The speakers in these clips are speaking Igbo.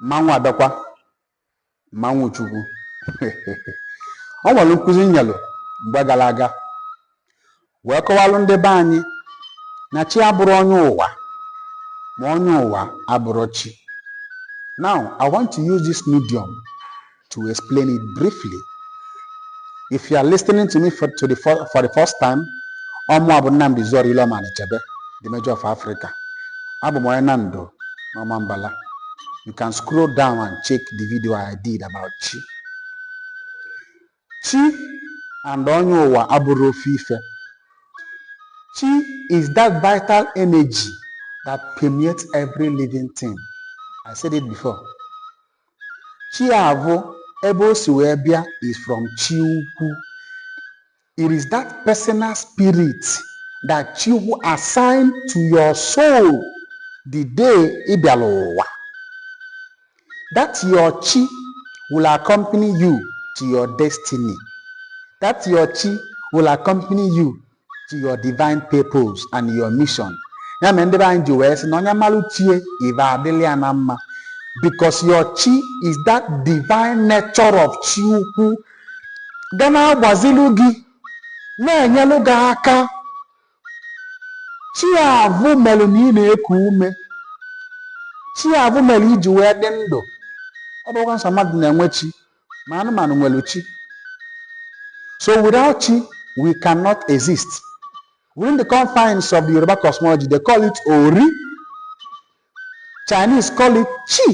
mmanwụ abịakwa mmanwụ chukwu o nwere nkuzi m nyelụ mgbe gara aga wee kọwalụ ndị be anyị na chi abụrọ onye ụwa ma onye ụwa abụrọ chi now i want to use this medium to explain it briefly. If you are listening to me for the first time, ọmụwa bụ Nnamdi Zoro Ileọma Anịchebe, the Major of Africa. Abụ m onye Nando n'Ọmambala. You can scroll down and check the video I did about chi. Chi and onye ụwa abụrọ ofu ife. Chi is that vital energy that permeates every living thing. I said it before. Chiavụ ebe o si wee bịa is from chi ukwu. It is that personal spirit that Chihu assigned to your soul the day ị bịara ụwa. That your chi will accompany you to your destiny. That your chi will accompany you to your divine purpose and your mission ya mere ndị be anyị ji wee sị na onye malụ chi e ive adịlị ya na mma because your chi is that divine nature of chi ukwu ga na-agbazilu gị na-enyelụ gị aka chi avụ melụ na ị na-eku ume chi avụ melụ i ji wee dị ndụ ọ bụrọkwa nsọ mmadụ na-enwe chi ma anụmanụ nwere chi so without chi we cannot exist within the confines of the Yoruba cosmology they call it ori Chinese call it chi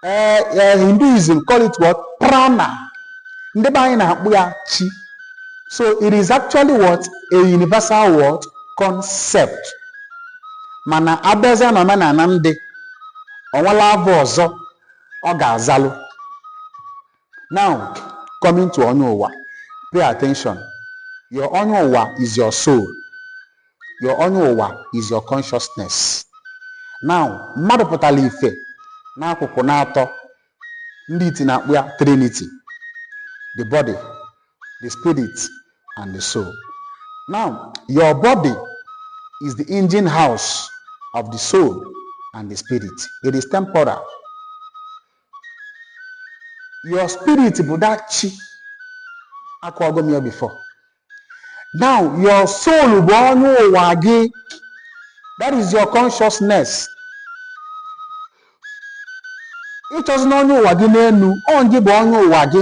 uh, uh, Hinduism call it what prana ndị be anyị na-akpọ ya chi so it is actually what a universal word concept mana abịazịa na omenala ndị o nwelụ ava ọzọ ọ ga-azalụ now coming to onye ụwa pay attention your onye ụwa is your soul your onye ụwa is your consciousness now mmadụ pụtara ife n'akụkụ n'atọ ndị iti na-akpọ ya trinity the body the spirit, and the soul. Now, your body is the engine house of the soul and the spirit. It is temporal. Your spirit bụ that chi akọwago m ya before. Now, your soul bụ onye ụwa gị. That is your consciousness. ị chọzina onye ụwa gị n'enu ọ gị bụ onye ụwa gị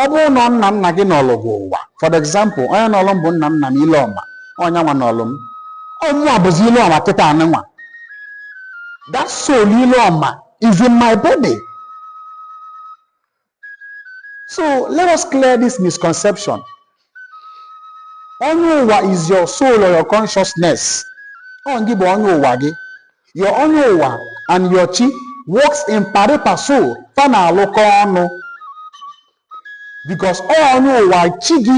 ọ bụrụ na nna nna gị nọlụ gị ụwa for example onye nọlụ m bụ nna nna m ileọma onye nwa nọlụ m ọmụwa bụzi ileọma kịta anị nwa that soul ileọma is in my body so let us clear this misconception onye ụwa is your soul or your consciousness ọ ngị bụ onye ụwa gị your onye ụwa and your chi works in pari passu fa na-alụkọ ọnụ because ọ onye ụwa chi gị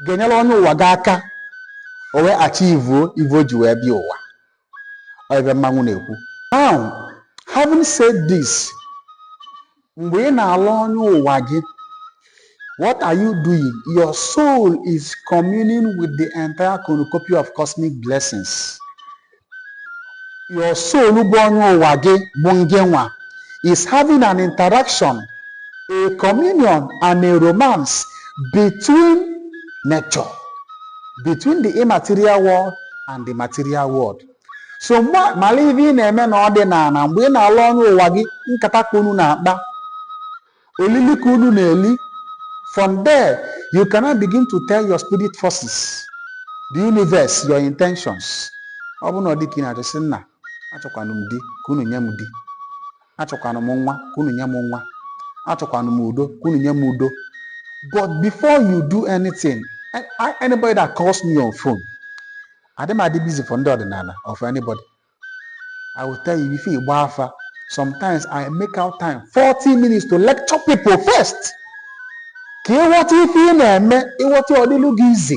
ga-enyere onye ụwa gị aka o wee achieve ive o ji wee bịa ụwa ọ ive mmanwụ na-ekwu now having said this mgbe ị na-alụ onye ụwa gị what are you doing your soul is communing with the entire cornucopia of cosmic blessings your soul bụ onye ụwa gị bụ ngị nwa is having an interaction a communion and a romance between nature between the immaterial world and the material world so malụ ive ị na-eme na ọdịnana mgbe ị na-alụ onye ụwa gị nkata ka unu na-akpa olili ka unu na-eli from there you can now begin to tell your spirit forces the universe your intentions ọ bụ na ọ di ka ị na-achọ sị nna achọkwanụ m di ka unu nye m di achọkwanụ m nwa ka unu nye m nwa achọkwanụ m udo ka unu nye m udo but before you do anything anybody that calls me on phone adị m adị busy for ndị ọdịnala or for anybody i will tell you before ị gba afa sometimes i make out time 40 minutes to lecture people first ka ị ghọta ife ị na-eme ị ghọta ọ dịlụ gị easy